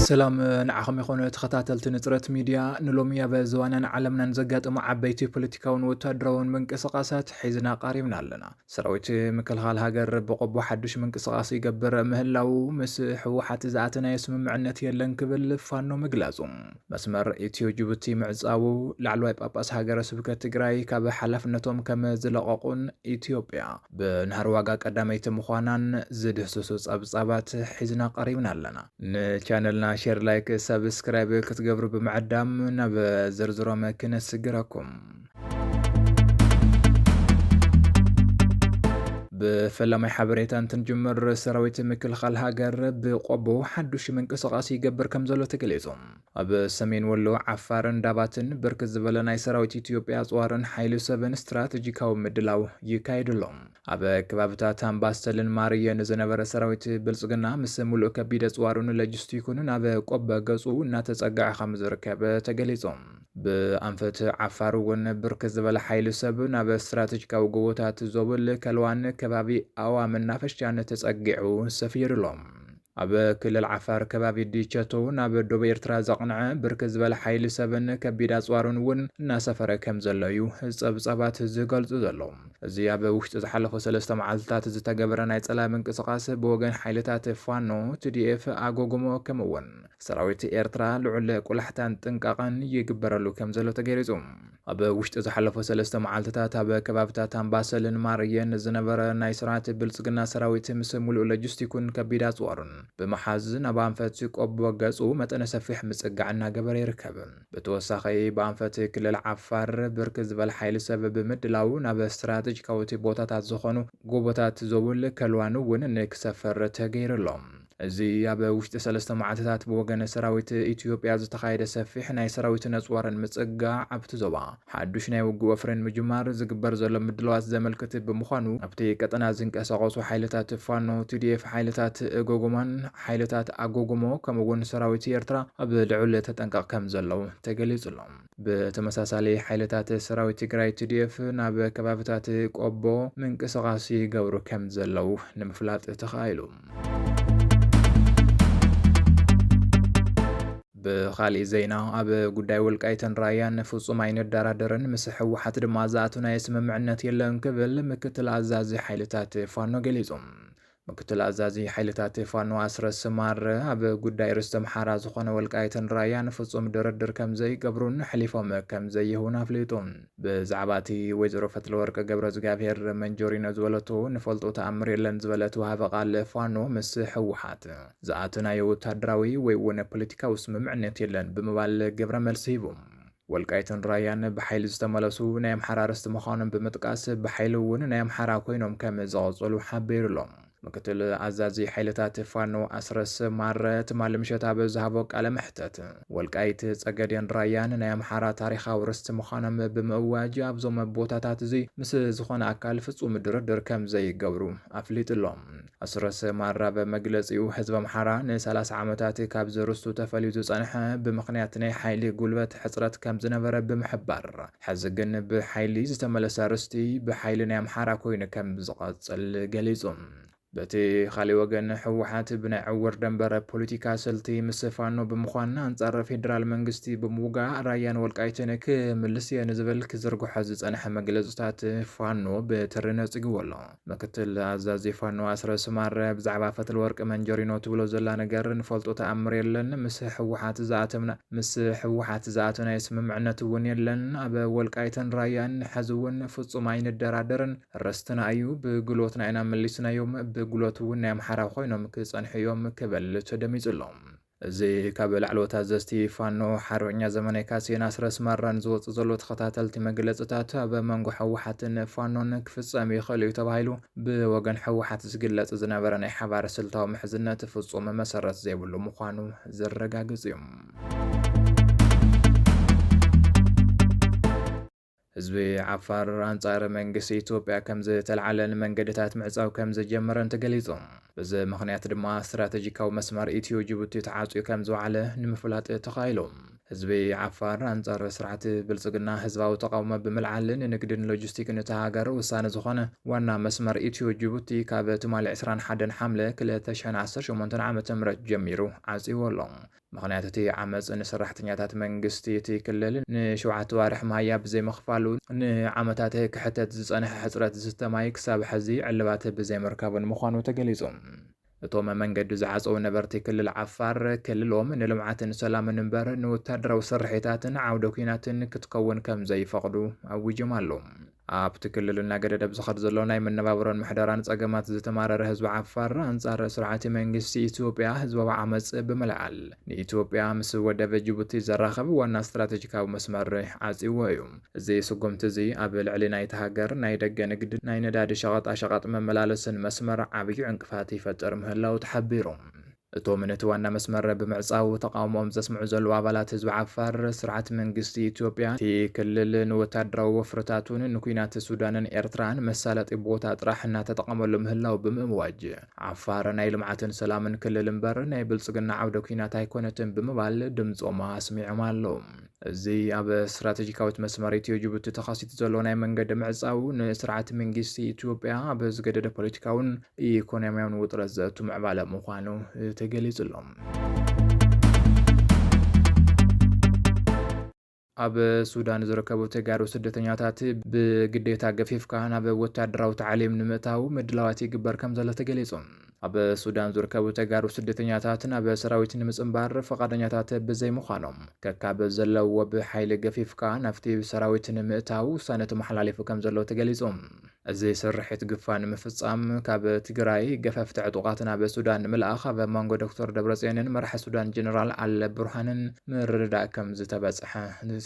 ሰላም ንዓኹም ይኹን ተኸታተልቲ ንፅረት ሚድያ ንሎሚ ኣብ ዝዋናን ዓለምናን ዘጋጠሙ ዓበይቲ ፖለቲካውን ወታደራውን ምንቅስቓሳት ሒዝና ቃሪብና ኣለና ሰራዊት ምክልኻል ሃገር ብቆቦ ሓዱሽ ምንቅስቓስ ይገብር ምህላው ምስ ህወሓት ዝኣተናዮ ስምምዕነት የለን ክብል ፋኖ ምግላጹ መስመር ኢትዮ ጅቡቲ ምዕፃዉ፣ ላዕለዋይ ጳጳስ ሃገረ ስብከት ትግራይ ካብ ሓላፍነቶም ከም ዝለቐቑን ኢትዮጵያ ብናህሪ ዋጋ ቀዳመይቲ ምዃናን ዝድህስሱ ፀብፃባት ሒዝና ቀሪብና ኣለና። ንቻነልና ሼር፣ ላይክ፣ ሳብስክራይብ ክትገብሩ ብምዕዳም ናብ ዝርዝሮም ክነስግረኩም። ብፈላማይ ሓበሬታ እንትንጅምር ሰራዊት ምክልኻል ሃገር ብቆቦ ሓዱሽ ምንቅስቓስ ይገብር ከም ዘሎ ተገሊጹ። ኣብ ሰሜን ወሎ ዓፋርን ዳባትን ብርክት ዝበለ ናይ ሰራዊት ኢትዮጵያ ኣፅዋርን ሓይሊ ሰብን ስትራቴጂካዊ ምድላው ይካየዱ ኣሎ። ኣብ ከባብታት ኣምባሰልን ማርየን ዝነበረ ሰራዊት ብልፅግና ምስ ሙሉእ ከቢድ ኣፅዋሩን ሎጂስቲኩን ናብ ቆቦ ገፁ እናተፀግዐ ከም ዝርከብ ተገሊጹ። ብኣንፈት ዓፋር እውን ብርክ ዝበለ ሓይሊ ሰብ ናብ ስትራቴጂካዊ ጎቦታት ዞብል ከልዋን ከባቢ ኣዋ መናፈሻን ተጸጊዑ ሰፊሩሎም። ኣብ ክልል ዓፋር ከባቢ ዲቸቶ ናብ ዶብ ኤርትራ ዘቕንዐ ብርክ ዝበለ ሓይሊ ሰብን ከቢድ ኣፅዋሩን እውን እናሰፈረ ከም ዘሎ እዩ ፀብፃባት ዝገልፁ ዘሎ። እዚ ኣብ ውሽጢ ዝሓለፉ ሰለስተ መዓልትታት ዝተገበረ ናይ ፀላኢ ምንቅስቓስ ብወገን ሓይልታት ፋኖ፣ ትዲኤፍ፣ ኣጎጎሞ ከምኡውን ሰራዊት ኤርትራ ልዑል ቁላሕታን ጥንቃቐን ይግበረሉ ከም ዘሎ ተገሊጹ። ኣብ ውሽጢ ዝሓለፉ ሰለስተ መዓልትታት ኣብ ከባብታት ኣምባሰልን ማርየን ዝነበረ ናይ ስርዓት ብልጽግና ሰራዊት ምስ ሙሉእ ሎጂስቲኩን ከቢድ ኣጽዋሩን ብምሓዝ ናብ ኣንፈት ቆቦ ገጹ መጠነ ሰፊሕ ምጽጋዕ እናገበረ ይርከብ። ብተወሳኺ ብኣንፈት ክልል ዓፋር ብርክት ዝበለ ሓይሊ ሰብ ብምድላው ናብ ስትራተጂካዊት ቦታታት ዝኾኑ ጎቦታት ዞብል ከልዋን እውን ንክሰፍር ተገይሩ ኣሎ። እዚ ኣብ ውሽጢ ሰለስተ መዓልትታት ብወገነ ሰራዊት ኢትዮጵያ ዝተኻየደ ሰፊሕ ናይ ሰራዊት ነጽዋርን ምጽጋዕ ኣብቲ ዞባ ሓዱሽ ናይ ውግእ ወፍሪ ንምጅማር ዝግበር ዘሎ ምድላዋት ዘመልክት ብምዃኑ ኣብቲ ቀጠና ዝንቀሳቐሱ ሓይልታት ፋኖ፣ TDF፣ ሓይልታት እጎጎማን ሓይልታት ኣጎጎሞ ከምኡ'ውን ሰራዊት ኤርትራ ኣብ ልዑል ተጠንቀቕ ከምዘለዉ ተገሊጹ ኣሎ። ብተመሳሳሊ ሓይልታት ሰራዊት ትግራይ ቲዲኤፍ ናብ ከባብታት ቆቦ ምንቅስቓስ ይገብሩ ከም ዘለው ንምፍላጥ ተኻኢሉ። ብኻሊእ ዜና ኣብ ጉዳይ ወልቃይትን ራያን ፍጹም ኣይንደራደርን ምስ ህወሓት ድማ ዝኣትናዮ ስምምዕነት የለን ክብል ምክትል ኣዛዚ ሓይልታት ፋኖ ገሊጹ። ምክትል ኣዛዚ ሓይልታት ፋኖ ኣስረስ ማረ፣ ኣብ ጉዳይ ርስቲ ኣምሓራ ዝኾነ ወልቃይትን ራያን ፍፁም ድርድር ከምዘይገብሩን ኣሕሊፎም ከምዘይህቡን ኣፍሊጡ። ብዛዕባ እቲ ወይዘሮ ፈትለወርቅ ገብረዝግኣብሄር መንጆሪኖ ዝበለቶ ንፈልጦ ተኣምር የለን ዝበለት ወሃቢ ቃል ፋኖ ምስ ህወሓት ዝኣተናዮ ወታደራዊ ወይ'ውን ፖለቲካዊ ስምምዕነት የለን ብምባል ግብረ መልሲ ሂቡ። ወልቃይትን ራያን ብሓይሊ ዝተመለሱ ናይ ኣምሓራ ርስቲ ምዃኖም ብምጥቃስ ብሓይሊ እውን ናይ ኣምሓራ ኮይኖም ከም ዝቐጸሉ ሓቢሩ ኣሎ። ምክትል ኣዛዚ ሓይልታት ፋኖ ኣስረስ ማረ ትማሊ ምሸት ኣብ ዝሃቦ ቃለ መሕተት ወልቃይት፣ ጸገዴን ራያን ናይ ኣምሓራ ታሪኻዊ ርስቲ ምዃኖም ብምእዋጅ ኣብዞም ቦታታት እዚ ምስ ዝኾነ ኣካል ፍጹም ድርድር ከም ዘይገብሩ ኣፍሊጡ ኣሎ። ኣስረስ ማራ ኣብ መግለጺኡ፣ ህዝቢ ኣምሓራ ንሰላሳ ዓመታት ካብዚ ርስቱ ተፈልዩ ዝጸንሐ ብምኽንያት ናይ ሓይሊ ጉልበት ሕጽረት ከምዝነበረ ብምሕባር፣ ሕዚ ግን ብሓይሊ ዝተመለሰ ርስቲ ብሓይሊ ናይ ኣምሓራ ኮይኑ ከምዝቐጽል ገሊጹ። በቲ ኻሊእ ወገን ህወሓት ብናይ ዕውር ደንበረ ፖሊቲካ ስልቲ ምስ ፋኖ ብምዃን ኣንጻር ፌዴራል መንግስቲ ብምውጋእ ራያን ወልቃይትን ክምልስ እየ ንዝብል ክዝርግሖ ዝጸንሐ መግለጽታት ፋኖ ብትሪ ነጺግዎ ኣሎ። ምክትል ኣዛዚ ፋኖ ኣስረስ ማረ ብዛዕባ ፈትለወርቅ መንጀሪኖ ትብሎ ዘላ ነገር ንፈልጦ ተኣምር የለን። ምስ ህወሓት ዝኣተምና ምስ ህወሓት ዝኣተናዮ ስምምዕነት እውን የለን። ኣብ ወልቃይትን ራያን ሕዚ እውን ፍፁም ኣይንደራደርን ርስትና እዩ። ብግሎትና ኢና መሊስናዮም። ብግሎት እውን ናይ ኣምሓራ ኮይኖም ክፀንሑ እዮም ክበል ተደሚፁ ኣሎ። እዚ ካብ ላዕለዎት ኣዘዝቲ ፋኖ ሓርበኛ ዘመነ ካሴን ኣስረስ ማራን ዝወጽእ ዘሎ ተኸታተልቲ መግለጽታት ኣብ መንጎ ህወሓትን ፋኖን ክፍጸም ይኽእል እዩ ተባሂሉ ብወገን ህወሓት ዝግለጽ ዝነበረ ናይ ሓባር ስልታዊ ምሕዝነት ፍጹም መሰረት ዘይብሉ ምዃኑ ዘረጋግጽ እዩ። ህዝቢ ዓፋር ኣንጻር መንግስቲ ኢትዮጵያ ከምዝተልዓለን መንገድታት ምዕጻው ከምዝጀመረን ተገሊጹ። በዚ ምኽንያት ድማ ስትራተጂካዊ መስመር ኢትዮ-ጅቡቲ ተዓጽዩ ከምዝወዓለ ንምፍላጥ ተኻኢሉ። ህዝቢ ዓፋር ኣንጻር ስርዓት ብልጽግና ህዝባዊ ተቓውሞ ብምልዓል ንንግድን ሎጂስቲክን እታ ሃገር ወሳኒ ዝኾነ ዋና መስመር ኢትዮ-ጅቡቲ ካብ ትማሊ ዕስራን ሓደን ሓምለ ክልተ ሽሕን ዓሰርተ ሸሞንተን ዓመተ ምህረት ጀሚሩ ዓጽዩዎ ኣሎ። ምኽንያት እቲ ዓመጽ ንሰራሕተኛታት መንግስቲ እቲ ክልል ንሸውዓተ ኣዋርሕ መሃያ ብዘይምኽፋሉ፣ ንዓመታት ክሕተት ዝጸንሐ ሕጽረት ዝስተ ማይ ክሳብ ሕዚ ዕልባት ብዘይምርካቡን ምዃኑ ተገሊጹ። እቶም መንገዲ ዝዓጸዉ ነበርቲ ክልል ዓፋር፣ ክልሎም ንልምዓትን ሰላምን እምበር ንወተሃደራዊ ስርሒታትን ዓውደ ኲናትን ክትከውን ከምዘይፈቕዱ ኣዊጆም ኣለዉ። ኣብቲ ክልል እናገደደ ብዝኸድ ዘሎ ናይ መነባብሮን ምሕደራን ጸገማት ዝተማረረ ህዝቢ ዓፋር ኣንጻር ስርዓት መንግስቲ ኢትዮጵያ ህዝባዊ ዓመጽ ብምልዓል ንኢትዮጵያ ምስ ወደብ ጅቡቲ ዘራኽብ ዋና ስትራተጂካዊ መስመር ዓጽይዎ እዩ። እዚ ስጉምቲ እዚ ኣብ ልዕሊ ናይታ ሃገር ናይ ደገ ንግድን ናይ ነዳዲ ሸቐጣ ሸቐጥ መመላለስን መስመር ዓብዩ ዕንቅፋት ይፈጥር ምህላዉ ተሓቢሩ። እቶም ነቲ ዋና መስመር ብምዕጻው ተቓውሞኦም ዘስምዑ ዘለዉ ኣባላት ህዝቢ ዓፋር፣ ስርዓት መንግስቲ ኢትዮጵያ፣ እቲ ክልል ንወታደራዊ ወፍርታቱን ንኲናት ሱዳንን ኤርትራን መሳለጢ ቦታ ጥራሕ እናተጠቐመሉ ምህላዉ ብምእዋጅ፣ ዓፋር ናይ ልምዓትን ሰላምን ክልል እምበር ናይ ብልጽግና ዓውደ ኲናት ኣይኮነትን ብምባል ድምጾም ኣስሚዖም ኣለዉ። እዚ ኣብ ስትራተጂካዊት መስመር ኢትዮ ጅቡቲ ተኻሲቱ ዘሎ ናይ መንገዲ ምዕፃው ንስርዓት መንግስቲ ኢትዮጵያ ኣብ ዝገደደ ፖለቲካውን ኢኮኖሚያውን ውጥረት ዘእቱ ምዕባለ ምዃኑ ተገሊጹ ኣሎ። ኣብ ሱዳን ዝርከቡ ተጋሩ ስደተኛታት ብግዴታ ገፊፍካ ናብ ወታደራዊ ታዕሊም ንምእታው ምድላዋት ይግበር ከም ዘሎ ተገሊጹ። ኣብ ሱዳን ዝርከቡ ተጋሩ ስደተኛታት ናብ ሰራዊት ንምፅምባር ፈቓደኛታት ብዘይምዃኖም ከካብ ዘለውዎ ብሓይሊ ገፊፍካ ናብቲ ሰራዊት ንምእታው ውሳነ ተመሓላሊፉ ከም ዘሎ ተገሊጹ። እዚ ስርሒት ግፋ ንምፍጻም ካብ ትግራይ ገፈፍቲ ዕጡቓት ናብ ሱዳን ንምልኣኽ ኣብ መንጎ ዶክተር ደብረጽዮንን መራሒ ሱዳን ጀነራል ኣል ቡርሃንን ምርድዳእ ከም ዝተበጽሐ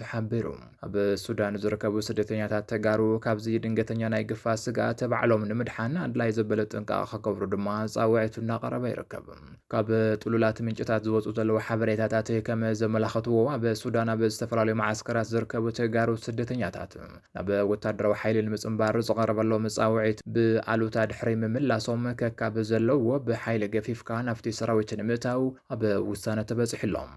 ተሓቢሩ። ኣብ ሱዳን ዝርከቡ ስደተኛታት ተጋሩ ካብዚ ድንገተኛ ናይ ግፋ ስግኣት ባዕሎም ንምድሓን ኣድላይ ዘበለ ጥንቃቐ ክገብሩ ድማ ፃውዒቱ እናቐረበ ይርከብ። ካብ ጥሉላት ምንጭታት ዝወፁ ዘለዉ ሓበሬታታት ከም ዘመላኸትዎ ኣብ ሱዳን ኣብ ዝተፈላለዩ መዓስከራት ዝርከቡ ተጋሩ ስደተኛታት ናብ ወታደራዊ ሓይሊ ንምፅምባር ዝቐረበሎም ፃውዒት ብኣሉታ ድሕሪ ምምላሶም ከካብ ዘለዎ ብሓይሊ ገፊፍካ ናብቲ ሰራዊት ንምእታው ኣብ ውሳነ ተበፂሑሎም።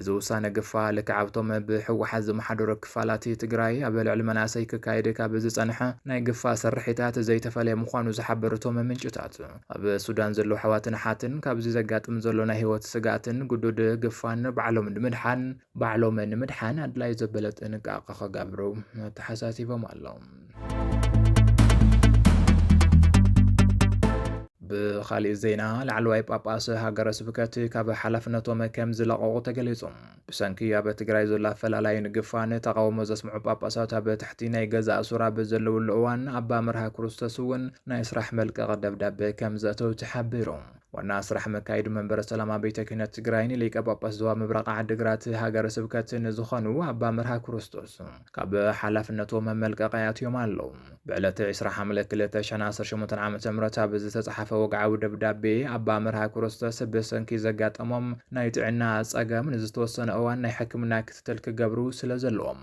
እዚ ውሳነ ግፋ ልክዕ ኣብቶም ብህወሓት ዝመሓደሩ ክፋላት ትግራይ ኣብ ልዕሊ መናእሰይ ክካየድ ካብ ዝፀንሐ ናይ ግፋ ስርሒታት ዘይተፈለየ ምዃኑ ዝሓበሩ እቶም ምንጭታት፣ ኣብ ሱዳን ዘለዉ ኣሕዋትን ኣሓትን ካብዚ ዘጋጥም ዘሎ ናይ ህይወት ስግኣትን ግዱድ ግፋን ንባዕሎም ንምድሓን ባዕሎም ንምድሓን ኣድላይ ዘበለ ጥንቃቐ ክገብሩ ኣተሓሳሲቦም ኣለዉ። ብኻሊእ ዜና ላዕለዋይ ጳጳስ ሃገረ ስብከት ካብ ሓላፍነቶም ከም ዝለቐቑ ተገሊጹ። ብሰንኪ ኣብ ትግራይ ዘሎ ኣፈላላይን ግፋን ተቓውሞ ዘስምዑ ጳጳሳት ኣብ ትሕቲ ናይ ገዛእ ሱራ ብዘለውሉ እዋን ኣባ መርሃ ክርስቶስ እውን ናይ ስራሕ መልቀቒ ደብዳቤ ከም ዘእተው ተሓቢሩ። ዋና ስራሕ መካይዱ መንበረ ሰላማ ቤተ ክህነት ትግራይ ንሊቀ ጳጳስ ዞባ ምብራቕ ዓድግራት ሃገረ ስብከት ንዝኾኑ ኣባ መርሃ ክርስቶስ ካብ ሓላፍነቶም መመልቀቒ ኣትዮም ኣለዉ። ብዕለት 20 ሓምለ 2018 ዓ ም ኣብ ዝተፅሓፈ ወግዓዊ ደብዳቤ ኣባ መርሃ ክርስቶስ ብሰንኪ ዘጋጠሞም ናይ ጥዕና ፀገም ንዝተወሰነ እዋን ናይ ሕክምና ክትትል ክገብሩ ስለ ዘለዎም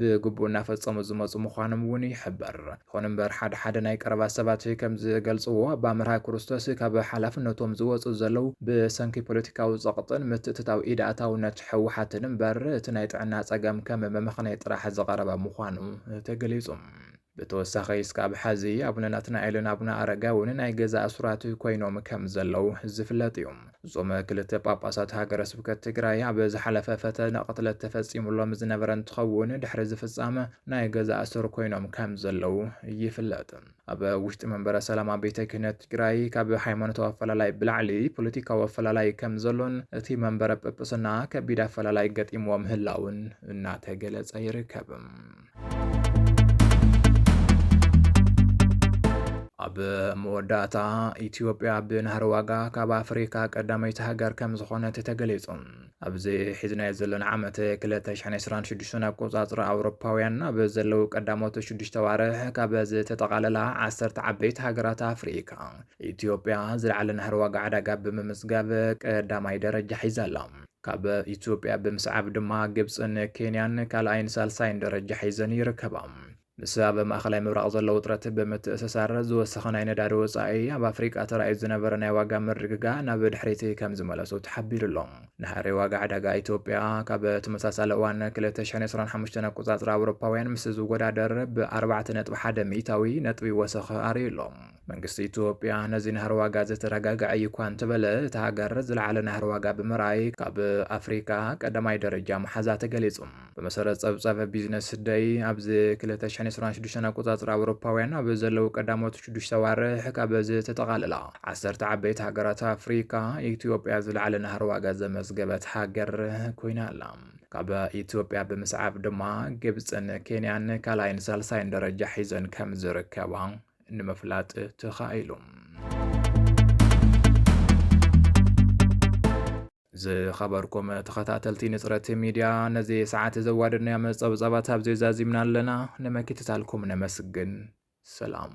ብግቡእ እናፈፀሙ ዝመፁ ምዃኖም እውን ይሕበር። ይኹን እምበር ሓደ ሓደ ናይ ቀረባ ሰባት ከምዝገልፅዎ ኣብ ኣምርሃ ኩርስቶስ ካብ ሓላፍነቶም ዝወፁ ዘለዉ ብሰንኪ ፖለቲካዊ ፀቕጥን ምትእትታው ኢድ ኣእታውነት ህወሓትን እምበር እቲ ናይ ጥዕና ፀገም ከም መመኽነይ ጥራሕ ዝቐረበ ምዃኑ ተገሊፁ። ብተወሳኺ እስካብ ሐዚ ኣቡነ ናትናኤልን ኣቡነ ኣረጋዊን ናይ ገዛ እሱራት ኮይኖም ከም ዘለው ዝፍለጥ እዩ። እዞም ክልተ ጳጳሳት ሃገረ ስብከት ትግራይ ኣብ ዝሓለፈ ፈተነ ቅትለት ተፈፂሙሎም ዝነበረ እንትኸውን ድሕሪ እዚ ፍፃመ ናይ ገዛ እሱር ኮይኖም ከም ዘለው ይፍለጥ። ኣብ ውሽጢ መንበረ ሰላማ ቤተ ክህነት ትግራይ ካብ ሃይማኖታዊ ኣፈላላይ ብላዕሊ ፖለቲካዊ ኣፈላላይ ከም ዘሎን እቲ መንበረ ጵጵስና ከቢድ ኣፈላላይ ገጢምዎ ምህላውን እናተገለፀ ይርከብ። ኣብ መወዳእታ ኢትዮጵያ ብናህሪ ዋጋ ካብ ኣፍሪካ ቀዳመይቲ ሃገር ከም ዝኾነት ተገሊጹ ኣብዚ ሒዝናዮ ዘለና ዓመት 226 ኣቆጻጽሪ ኣውሮፓውያን ኣብ ዘለዉ ቀዳሞት ሽዱሽተ ዋርሕ ካብ ዝተጠቓለላ ዓሰርተ ዓበይቲ ሃገራት ኣፍሪካ ኢትዮጵያ ዝለዓለ ናህሪ ዋጋ ዕዳጋ ብምምዝጋብ ቀዳማይ ደረጃ ሒዛ ኣላ። ካብ ኢትዮጵያ ብምስዓብ ድማ ግብፅን ኬንያን ካልኣይን ሳልሳይን ደረጃ ሒዘን ይርከባ። ምስ ኣብ ማእኸላይ ምብራቕ ዘሎ ውጥረት ብምትእስሳር ዝወሰኸ ናይ ነዳዲ ወፃኢ ኣብ ኣፍሪቃ ተራእዩ ዝነበረ ናይ ዋጋ ምርግጋእ ናብ ድሕሪት ከምዝመለሶ ተሓቢሩ ኣሎ። ናህሪ ዋጋ ዕዳጋ ኢትዮጵያ ካብ ተመሳሳሊ እዋን 2025 ኣቆፃፅራ ኣውሮፓውያን ምስ ዝወዳደር ብ4.1 ሚእታዊ ነጥቢ ወሰኸ ኣርእዩ ኣሎ። መንግስቲ ኢትዮጵያ ነዚ ናህሪ ዋጋ ዘተረጋግዐ እዩ እኳ እንተበለ እታ ሃገር ዝለዓለ ናህሪ ዋጋ ብምርኣይ ካብ ኣፍሪካ ቀዳማይ ደረጃ መሓዛ ተገሊጹ። ብመሰረት ጸብጻብ ቢዝነስ ደይ ኣብዚ 2026 ኣቆጻጽራ ኣውሮፓውያን ኣብ ዘለዉ ቀዳሞት ሽዱሽተ ኣዋርሕ ካብ ዝተጠቓለላ ዓሰርተ ዓበይቲ ሃገራት ኣፍሪካ ኢትዮጵያ ዝለዓለ ናህሪ ዋጋ ዘመዝገበት ሃገር ኮይና ኣላ። ካብ ኢትዮጵያ ብምስዓብ ድማ ግብፅን ኬንያን ካልኣይን ሳልሳይን ደረጃ ሒዘን ከም ዝርከባ ንምፍላጥ ተኻኢሉ። ዝኸበርኩም ተኸታተልቲ ንፅረት ሚድያ ነዚ ሰዓት ዘዋደድናዮ መፀብፃባት ኣብዚ ዛዚምና ኣለና። ንመኪትታልኩም ነመስግን። ሰላም